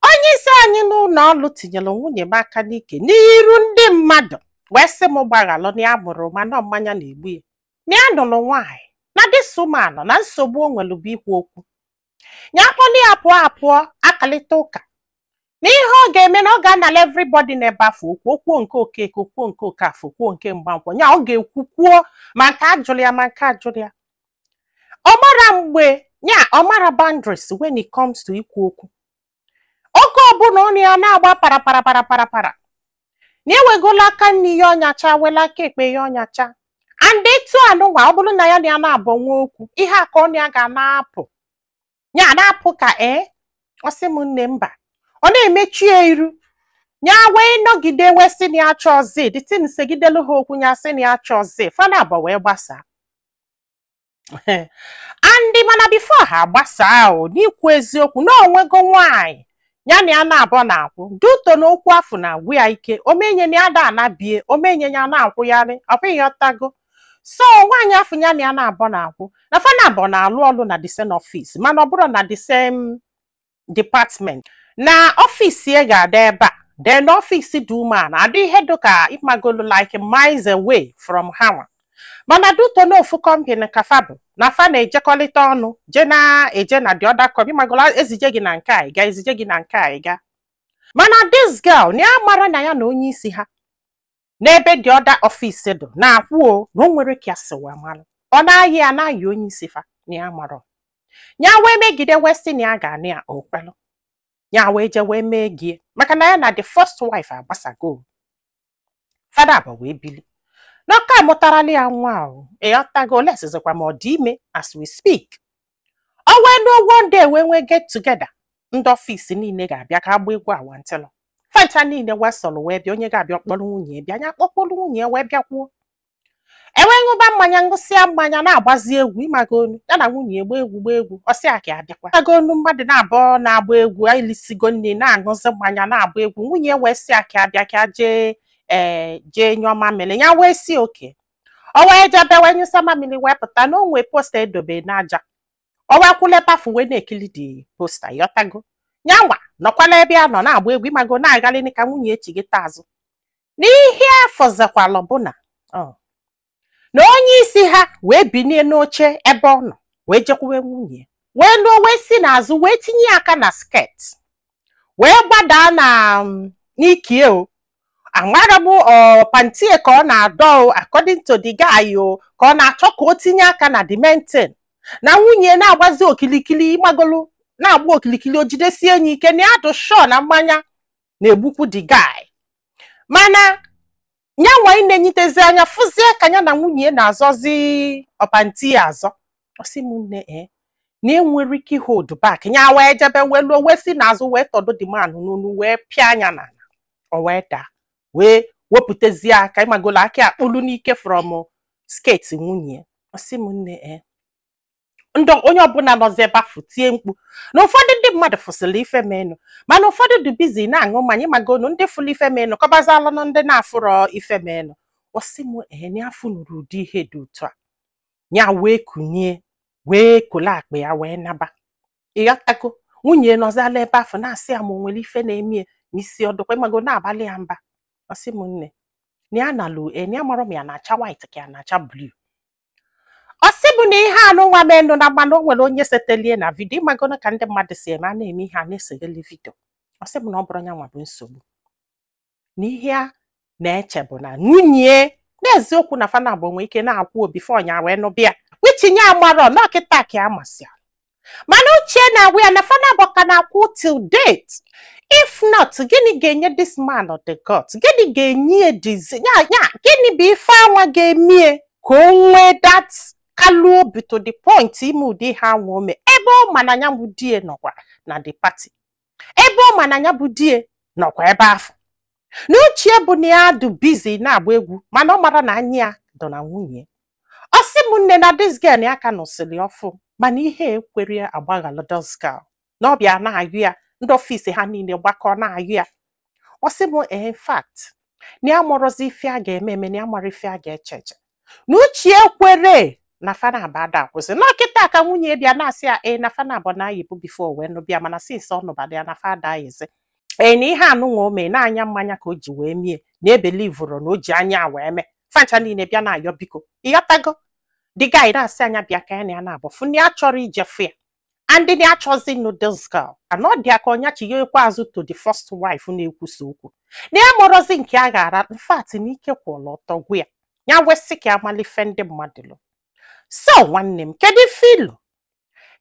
onye isi anyị n'ụlọ ọrụ tinyere nwunye m aka n'ike n'iru ndị mmadụ wee sị m gbaghalụ na ya amarọ ụma na ọ mmanya na-egbu ya na ya nụrụ nwaanyị na this woman na nsogbu o nwere bụ ikwu okwu ya kpọlụ ya pụọ a pụọ akalịta ụka na ihe ọ ga-eme na ọ ga-anala everybody n'ebe afụ okwu o kwuo nke Okeke o kwuo nke Okafọ o kwuo nke Mgbankwọ ya ọ ga-ekwu kwuo ma nke a jụrụ ya ma nke ajụrọ ya ọ marọ mgbe ya ọ marọ boundaries when it comes to ikwu okwu oge ọbụla ọnụ ya na-agba para para para para para na ewegola aka nni ya ọnyacha wela aka ekpe ya ọnyacha and etu a nunwa ọ bụrụ na ya na ya naabọ nwee okwu ihe a ka ọnụ ya ga na-apụ ya na-apụ ka ee ọ sị m nne mba ọ na-emechu ya iru ya wee nọgide wee sị na ya achọrọzi the thing segidelu ha okwu ya sị na ya achọrọzi fa naabọ wee gbasaa and mana before ha gbasaa o n'ikwu eziokwu na o nwego nwaanyị ya na ya naabọ na-akwụ due to na okwu afụ na-agwụ ya ike o menye na ya ada anabie o menye ya na-akwụgharị ịghọtago so nwaanyị afụ ya na ya naabọ na-akwụ na fa naabọ na-alụ ọlụ na the same office mana ọ bụrọ na the same department na office ya ga-adị ebe a then office the woman adị ihe dịka ịmagolu like miles away from ha mana due to na ofu company ka fa bụ na fa na-ejekọrịta ọnụ je na-eje na the other company ịmagolu e zije gị na nke a ị gaa e zije gị na nke a ị gaa mana this girl na ya amarọ na ya na onye isi ha n'ebe the other office dụ na-akwụ o na o nwerọ ka ya si wee malụ ọ na-ayị ya na-ayị onye isi fa na ya amarọ ya wee megide wee sị na ya ga-anụ ya o kwelụ ya wee je wee mee gie maka na ya na the first wife agbasago fa naabọ wee bili na ọ ka amụtarọlụ ya nwa o ịghọtago olesizikwa ma ọ dị ime as we speak ọ wee ruo one day wee nwee get together ndị office niile ga-abịa ka a gbaa egwu awantịlụ fa ncha niile wee soro wee bịa onye ga-abịa kpọrọ nwunye ya bịa nya kpọkwuru nwunye ya wee bịakwuo e wee ṅụba mmanya ṅụsịa mmanya na-agbazi egwu ịmago nu ya na nwunye ya gbaa egwu gbaa egwu ọ sị ya ka ya bịakwa ịmago nu mmadụ naabọ na-agba egwu e lisigo nni na-aṅụzi mmanya na-agba egwu nwunye ya wee sị ya ka ya bịa ka ya jee ee jee nyụọ mamịrị ya wee sị okay o wee jebe wee nyụsa mamili wee pụta na o nwe poster e dobe n'aja o wee kwụlụ ebe afụ wee na-ekili the poster ịghọtago nyanwa nọkwalụ ebe ya nọ na-agba egwu ịmago na-agalịnị ka nwunye ya chighata azụ n'ihe ya fụzikwalụ bụ na onye isi ha wee binie n'oche ebe ọ nọ wee jekwuwe nwunye wee luo wee si n'azụ wee tinye aka na skirt wee gbadaa na um, n'ike ya o amarọ m ọ pantie ka ọ na-adọ o according to the guy o ka ọ na-achọ ka o tinye aka na the main thing na nwunye na-agbazi okilikili ịmagolu na-agba okilikili o jidesie nya ike na ya dụ sure na mmanya na-egbukwu the guy mana ya nwa na-enyitezi anya fụzie ka ya na nwunye na-azọzi ọ panti ya azọ ọ sị m nne ee na enwerọ ike ị hold back ya wee jebe wee luo wee si n'azụ wee tọdo the man n'onu wee pịa nya n'ala o wee daa wee wepụtazie aka ịmagolu aka akpụlu n'ike from skirt nwunye ọ sị m nne ee na onye ọbụla nọzi ebe afụ tie mkpu na ụfọdụ ndị mmadụ fụsịrị ife menụ mana ụfọdụ dị busy na-aṅụ mmanya ịmagonu ndị fụrụ ife menụ kọbazalụ na ndị na-afụrọ ife menụ ọ sị m na afụnurọ ụdị ihe dị otu a ya wee kunie wee kole akpa ya wee naba ịghọtago nwunye nọzala ebe afụ na-asị ya ma o nwere ife na-emie ma isi ọ dụkwa ịmago na-abalị ya mba ọ sị m nne na ya nalụ ya amarọ ma ya na-acha white ka ya na-acha blue ọ sị bụ na ihe anụnwa menụ na mmanụ o nwere onye setelie na vidio ịmagonu ka ndị mmadụ si eme a na-eme ihe a na-esegheli vidio ọ sị bụ na ọ bụrọ ya nwa bụ nsogbu na ihe a na-eche bụ na nwunye n'eziokwu na fa nabọ nwe ike na-akwụ before nya wee nụbịa which nya amarọ na ọ kịta ka ya masị mana uche na-agwa ya na fa nabọ ka na-akwụ till date if not gịnị ga-enye this man the gut gịnị ga-enye ya dizi ya ya gịnị bụ ife anwa ga-emie ka o nwee that kind of obi to the point ime ụdị ihe anwa o me ebe ọ ma na ya bụ di ya nọkwa na the party ebe ọ ma na ya bụ di ya nọkwa ebe afụ na uche ya bụ na ya dụ busy na-agba egwu mana ọ marọ na anya ya dụ na nwunye ya. ọ sị m nne na this girl ya ka nụsịrị ọfụụ mana ihe ekwerọ ya gbaghalụ this girl na ọ bịa na-ayọ ya ndị office ha niile gbakọ na-ayọ ya ọ sị m in fact na ya amarọzi ife a ga-eme eme na ya amarọ ife a ga-eche eche na uche ekwerọ na fa nabọ ada akwụzi na ọ kịta ka nwunye bịa na-asị ya ee na fa nabọ na-ayịbu before wee nụbịa mana since ọ nụbata ya na fa ada ayịzi ee na ihe anụnwa o mee na anya mmanya ka o ji wee mie na ebeliverọ na o ji anya ya wee mee fa ncha niile bịa na-ayọ biko ịghọtago the guy na-asị nya bịa ka ya na ya nabọ fụ na ya achọrọ ije fụ ya and na achọzi ịnụ this girl a na ọ dị ya ka nya chighakwa azụ to the first wife na-ekwusa okwu na ya amarọzi nke a ga-ara in fact na ike kwụrụ ọtọ gwụ ya ya wee sị ka a malụ ife ndị mmadụ lo so nwanne m kedu ife i lo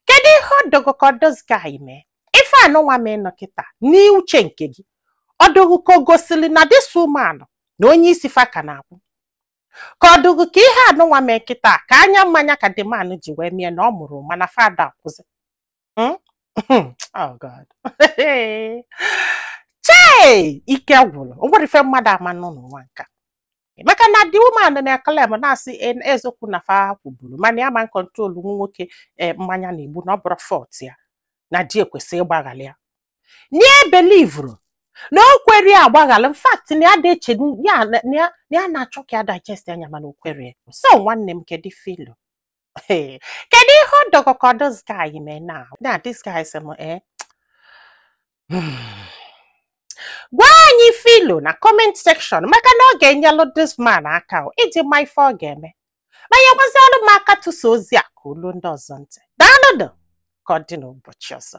kedu ihe ọ dụ gụ ka this guy mee ife anụnwa menụ kịta n'uche nke gị ọ dụ gụ ka o gosili na this woman na onye isi fa ka na-akwụ ka ọ dị gị ka ihe anụnwa mee kịta ka anya mmanya ka the man ji wee mie na ọ mụrụ mana fa ada akwụzi Hmm? oh God. chei ike gwụrụ o nwerọ ife mmadụ ama anụ n'ụwa nka maka na the woman na-eclaim na-asị "En- eziokwu na fa kwụburu mana ya ama controlu nwoke eh, mmanya na-egbu na ọ bụrọ fault ya na di ya kwesị ịgbaghalụ ya na ya ebelieverọ na o kwerọ ya agbaghalụ in fact na ya dị eche ya na- na ya- na ya na-achọ ka ya digest anya mana o kwerọ ya. so nwanne m kedu ife i lo Hey, kedu ihe ọ dị gị ka this guy mee na na this guy sị m eh gwa anyị ife i lo na comment section maka na ọ ga-enyelụ this man aka o, iji ma ife ọ ga-eme ma nyekwazialụ m aka tụsa ozi a ka o lu ndị ọzọ ntị daalụnụ ka ọ dị n'ụbọchị ọzọ